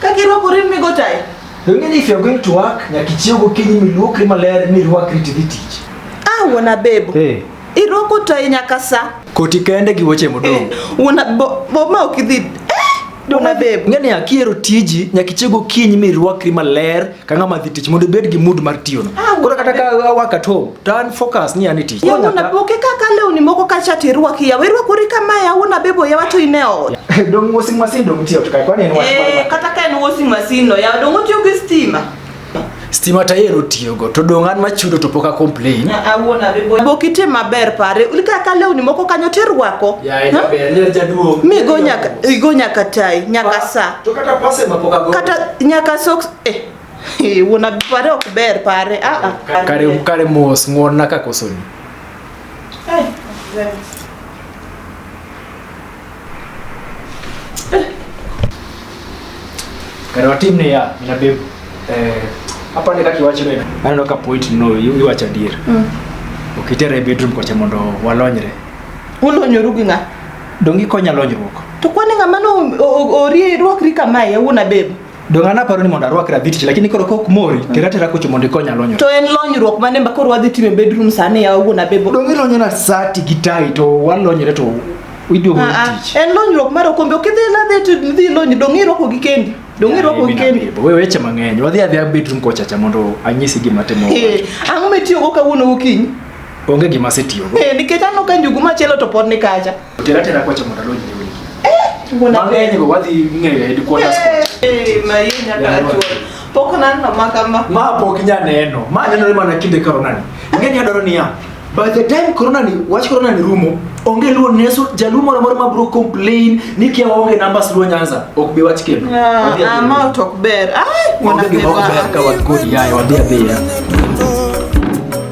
Ka girwako rin migo tayi. Don't mean if you're going to work, nyakichio gokinyi miluokri maler mirwakri tidhi tich. Ah, wuon Abebo. Hey. Eh. Irwako tayi nyaka sa. Koti kende gi wuoche modong'. Eh, wuon Abebo, bo ma ok idhi. Eh, Dona Abebo. Ng'e ni akiero tiji nyakichio gokinyi mirwakri maler ka ng'ama dhi tich mondo ibed gi mood mar tiyono. Ah, Koro kata ka awak at home, to an focus ni an e tich. Yawa na boke kaka lewni moko ka chat irwaki yawa irwakori kama yawa na bebo yawa to ine ot. Dong washing machine dong tiyo to kai kwani en wach Eh, mar. kata ka en washing machine no yawa dongo tiyo gi stima. Stima ta yero tiyogo to dong an machudo to pok a complain. Ah, ah, wuon abebo. Boki te maber pare. Ulika ka lewni moko kanyo to irwako. Ya ita Ha? ber, nyar jaduong'. Mi go nyaka igo nyaka tai, nyaka sa. To kata pase ma pok ago. Kata nyaka socks eh. Hey, una pare ok ber pare. Ah ah. Kare kare mos ng'won na ka kosoni. Hey, Kare watim ne ya, mina bebu. Eh, hapa ni kaki wacho ne. Aneno ka point no iwacho adier. Mm. Okitere bedroom kocha mondo walonyre. Ulonyoru gi ng'a? Donge ikonya lonyruok? To kwani ng'ama no orie rwakri kamae awuona bebo. Donge an aparo ni mondo arwakra vitich lakini koro kok mori mm. tera tera kocho mondo ikonya lonyruok. To en lonyruok mane ma koro wadhi time bedroom sani ya awuona bebo. Donge lonyona sati gi tai to walonyre to iduogo ah, ah. tich. En lonyruok mar okombe ok idhi ladhi to dhi lonyi donge irwako gi kendi. Donge irwako gi kendi. Wewe weche mang'eny. Wadhi adhi bedroom kocha cha mondo anyisi gima timo. Ang'o mitiyogo kawuono gokinyi? Onge gima asetiyogo. Eh, nikech aneno ka njugu machielo to pod ni kacha. Tera tera kwacha mondo alonyi e wigi. Eh, mona. Mang'eny go wadhi ng'eyo e headquarters. Eh, ma yeye nyaka achuo. Pok naneno ma kama. Ma pok inya neno. Ma nenore mana kinde corona ni. Ing'e ni adwaro niya. By the time corona ni, wach corona ni rumo, onge luo neso, jaluo moro moro ma bro complain ni kia onge numbers luo Nyanza, ok bi wach kendo. Wadhi adhi. Ah, ma tok ber. Ai, mona. Onge gima ok ber ka wan kod yaye, wadhi adhiya.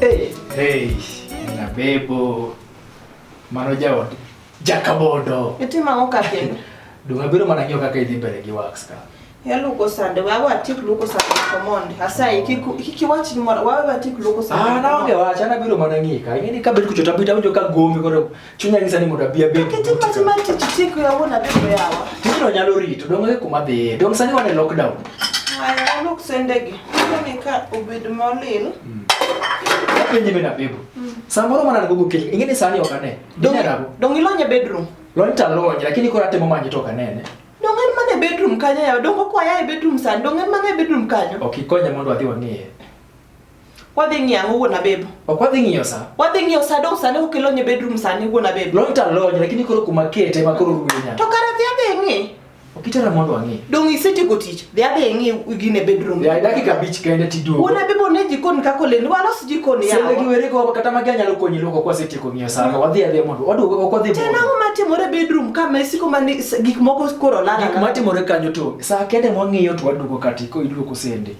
Hey, hey, na bebo. Mano jaod. Jakabodo. Itimo ang'o ka kendo? Dong' abiro mana ng'iyo kaka idhi mbele gi wax ka. Yaluoko sande, we awe atik luoko sande command. Asayi, kik kik iwach gimoro, wawe atik luoko sande. Ah, naonge wach, an abiro mana ng'iyi ka. Ing'eni ka bet kucho tabit awinjo ka gomi koro Chunya nyisa ni mondo abi abed. Kiti mati mati titi ko ya wona biko yawa. Tiji no nyalo rito dong e kuma dhiye. Dong sani wan e lockdown. Aya look sendegi. Ni ka obed molil. Mm. Penye bena bebo. Mm. Samoro mana nagogo kile. Ingine sani ok ane. Dong e- dong ilonye bedroom. Lony ta lony lakini kora temo manyi to kanene. Dong en mana e bedroom kanyo yawa. Dong okwaya e bedroom sani. Dong en mana e bedroom kanyo. Ok ikonya mondo adhi wang'eye. Wadhi ng'iyo ang'o wuon Abebo? Ok wadhi ng'iyo sa. Wadhi ng'iyo sa dong sani ukelo nye bedroom sani wuon Abebo. Lony ta lony lakini koro kuma kete ma koro ruenya. To kare dhi adhi ng'i. Ok itera mondo ang'i. Dong isetieko tich. Dhi adhi ng'i gine bedroom. Ya dakika abich kende tiduogo. Wuon Abebo ne jikon kaka oleni walos jikon yawa. Sende gi were go kata magi anyalo konyi loko kwa setieko ng'iyo sa. Wadhi adhi mondo waduogo ok wadhi. Tena ang'o matimore bedroom ka mesiko mani gik moko koro lala. Gik matimore kanyo to sa kende mwang'iyo to waduogo kati ko iduogo sende.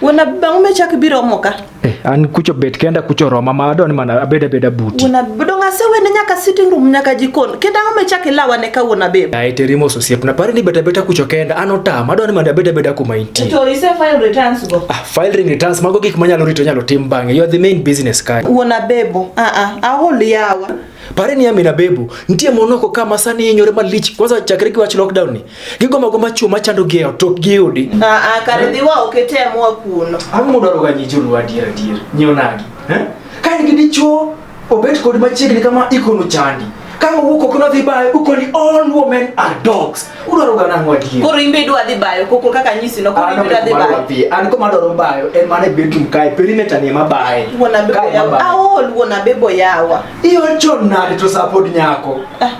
Wuon Abi bang' mechak biro mo ka. Eh, an kucho bet kenda kucho roma ma adwani mana abed abeda buti. Wuon Abi dong' asewene nyaka sitting room nyaka jikon. Kendo ang'o mechak ilawane ka wuon Abi? Ai terimo ososiep na pare ni bet abeta kucho kenda an otama adwani mana abed abeda kuma intie. To ise file returns go. Ah, filing returns mago gik manyalo rito nyalo tim bang'e. You are the main business guy. Wuon Abebo, ah ah, ahol yawa. Pare ni Amina Bebo, nitie monoko kama sani hinyore malich kwanza chakre gi wach lockdown ni. Gigombo gomba chuo machando gi e ot ok giyudi. Ah, ah, kare dhi wa ok item wa kuno. Ang'o mudwaro ga nyi joluo adier adier? Nyiew nagi. Eh? Ka in gi dichuo obet kod machiegni kama ikono chandi. Ka owuok oko nodhi bayo ukoni all women are dogs. Udwaro ga nang'o adier? Koro imbe idwa dhi bayo koko kaka nyisi no koro imbe idwa dhi bayo. An koma dwaro bayo en mana e bedroom kae perimeter ni ema baye. Wuon abebo yawa. Aol wuon abebo yawa. Iol chon nade to sapod nyako. Ah.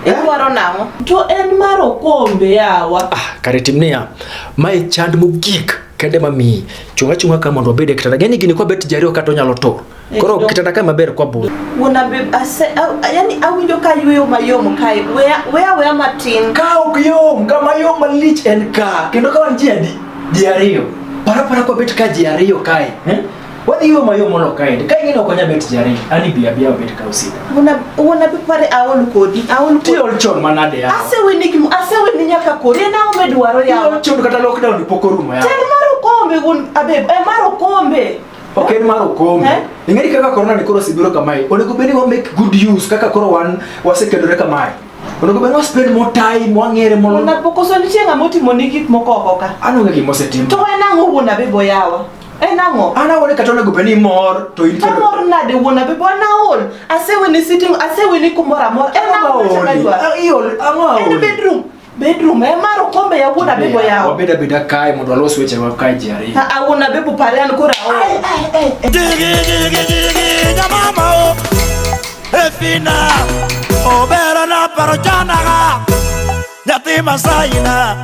Idwaro nang'o? To en mar okombe yawa. Ah, kare tim niya. Mae chand mogik kende ma miyi. Chunga chunga ka mondo obed e kitanda. Gani gini kwa bet jariyo kata onyalo to. Eh, Koro kitanda ka maber kwa bul. Wona be ase yani awinjo ka yueyo mayom kae. Weya weya weya matin. Ka ok yom, ka mayom malich en ka. Kendo ka wan ji adi? Ji ariyo. Para para kwa bet ka ji ariyo kae. Eh? Wadhi yo mayo mono kaende. Ka ing'ino konya bet jare. Ani bi abia bet ka usida. Una una bi pare aol kodi. Aol kodi. Tiol chon manade ya. Ase weni kim ase weni nyaka kodi. Ena ome dwaro ya. Tiol chon kata lockdown poko rumo ya. Ten maro kombe gun abe. E maro kombe. Ok en maro kombe. Eh? Ing'eri kaka corona ni koro sibiro kamae. Onego beni wa make good use kaka koro wan wasekedore kamae. Onego beni wa spend more time wang'ere mono. Una poko so nitie ng'amotimo ni gik moko oko ka. Ano ng'e gimose timo. To en ang'o wuon abe boyawa. En ang'o? An awone kata onego bed ni mor to in kendo. Amor nade wuon abi bo na ol. Asewe ni sitting, asewe ni kumoro amor. En ang'o ma chama dwa? Iol ang'o aol? En bedroom. Bedroom e mar okombe ya wuon abi bo yawo. Wabed abeda kae mondo walos weche wa kae ji ariyo. Ha wuon abi bo pare an kora ol. Ai ai ai. Digi digi digi jamama o. Efina obera na paro janaga. Nyathi masaina.